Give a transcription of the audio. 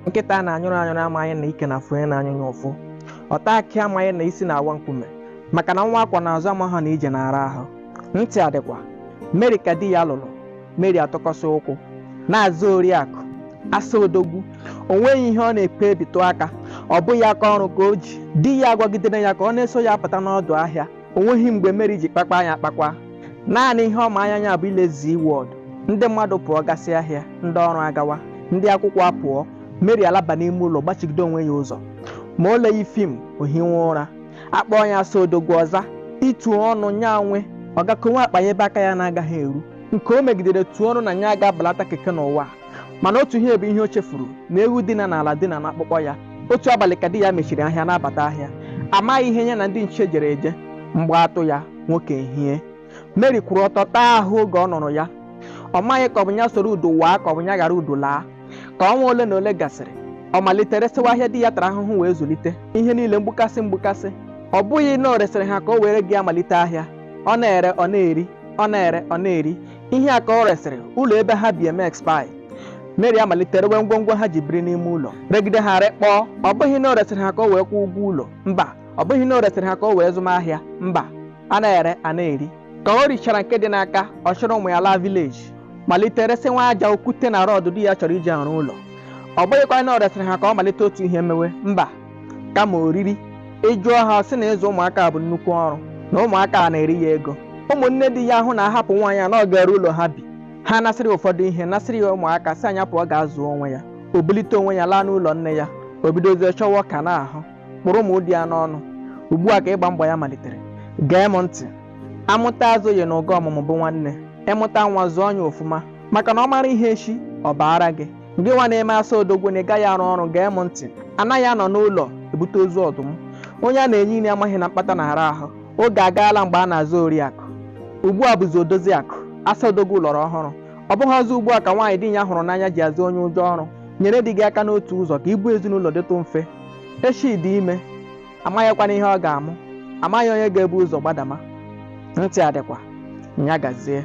nkịta a na-anyụrụ anyụrụ amaghị na ike na-afụ onye na-anyụ ya ụfụ ọta akị amaghị na isi na-awa nkume maka na nwa a kwọ n'azụ amaghị na ije na-ara ahụ ntị adịkwa mary ka di ya lụrụ mary atụkọsị ụkwụ na-aza oriakụ asa odogwu o nweghị ihe ọ na-ekpe ebitụ aka ọ bụghị aka ọrụ ka o ji di ya agwagidere ya ka ọ na-eso ya apụta n'ọdụ ahịa o nweghị mgbe mary ji kpakpa anya akpakwa naanị ihe ọ ma anya ya bụ ile zee world ndị mmadụ pụọ gasị ahịa ndị ọrụ agawa ndị akwụkwọ apụọ mary alaba n'ime ụlọ gbachigide onwe ya ụzọ ma o leghị fim o hinwe ụra a kpọọ ya asa odogwu ọ zaa itu ọnụ nya nwe ọ gaa konwe akpa ya ebe aka ya na-agaghị eru nke o megidere tuo ọnụ na ya aga abalata keke n'ụwa mana otu ihe bụ ihe o chefuru na ewu dina n'ala dina n'akpụkpọ ya otu abalị ka di ya mechiri ahịa na-abata ahịa amaghị ihe ya na ndị nche jere eje mgbọ atụ ya nwoke ehie mary kwụrụ ọtọ taa ahụ oge ọ nụrụ ya ọ maghị ka ọ bụ ya soro udo waa ka ọ bụ ya ghara udo laa ka ọnwa ole na ole gasịrị ọ malite resịwa ahịa di ya tara ahụhụ wee zụlite ihe niile mgbukasị mgbukasị ọ bụghị na o resịrị ha ka o were ego ya malite ahịa ọ na-ere ọ na-eri ọ na-ere ọ na-eri ihe a ka o resịrị ụlọ ebe ha bi eme expire mary amalite rewe ngwongwo ha ji biri n'ime ụlọ regide ha rekpọọ ọ bụghị na o resịrị ha ka o wee kwụọ ụgwọ ụlọ mba ọ bụghị na o resịrị ha ka o wee zụma ahịa mba a na-ere a na-eri ka o richara nke dị n'aka ọ chịrị ụmụ ya laa village malite resịnwa aja okwute na rod di ya chọrọ iji arụ ụlọ ọ bụghịkwa na o resịrị ha ka ọ malite otu ihe mewe mba kama oriri ị jụọ ha sị na ịzụ ụmụaka bụ nnukwu ọrụ na ụmụaka a na-eri ya ego ụmụnne di ya ahụ na a hapụ nwaanyị a na ọ ga-ere ụlọ ha bi ha nasịrị ya ụfọdụ ihe nasịrị ya ụmụaka sị nya pụọ gaa zụọ onwe ya o bulite onwe ya laa n'ụlọ nne ya o bidozie chọwa ọka na-ahụ kpụrụ ma ụdị ya n'ọnụ ugbu a ka ịgba mgba ya malitere gee m ntị amụta azụghị na ụga ọmụmụ bụ nwanne ị mụta nwa zụọ ya ofụma maka na ọ mara ihe echi ọ baara gị gị nwa na-eme asa odogwu na ị gaghị arụ ọrụ gee m ntị anaghị anọ n'ụlọ ebute ozu ọdụm onye a na-enye nri amaghị na mkpata na-ara ahụ oge agaala mgbe a na-aza oriakụ ugbu a bụzi odoziakụ asa odogwu ọlọrọ ọhụrụ ọ bụghị ọzọ ugbu a ka nwaanyị di ya hụrụ n'anya ji aza onye ụjọ ọrụ nyere di gị aka n'otu ụzọ ka ibu ezinụlọ dịtụ mfe echi dị ime amaghịkwana ihe ọ ga-amụ amaghị onye ga-ebu ụzọ gbadama ntị adịkwa nya gazie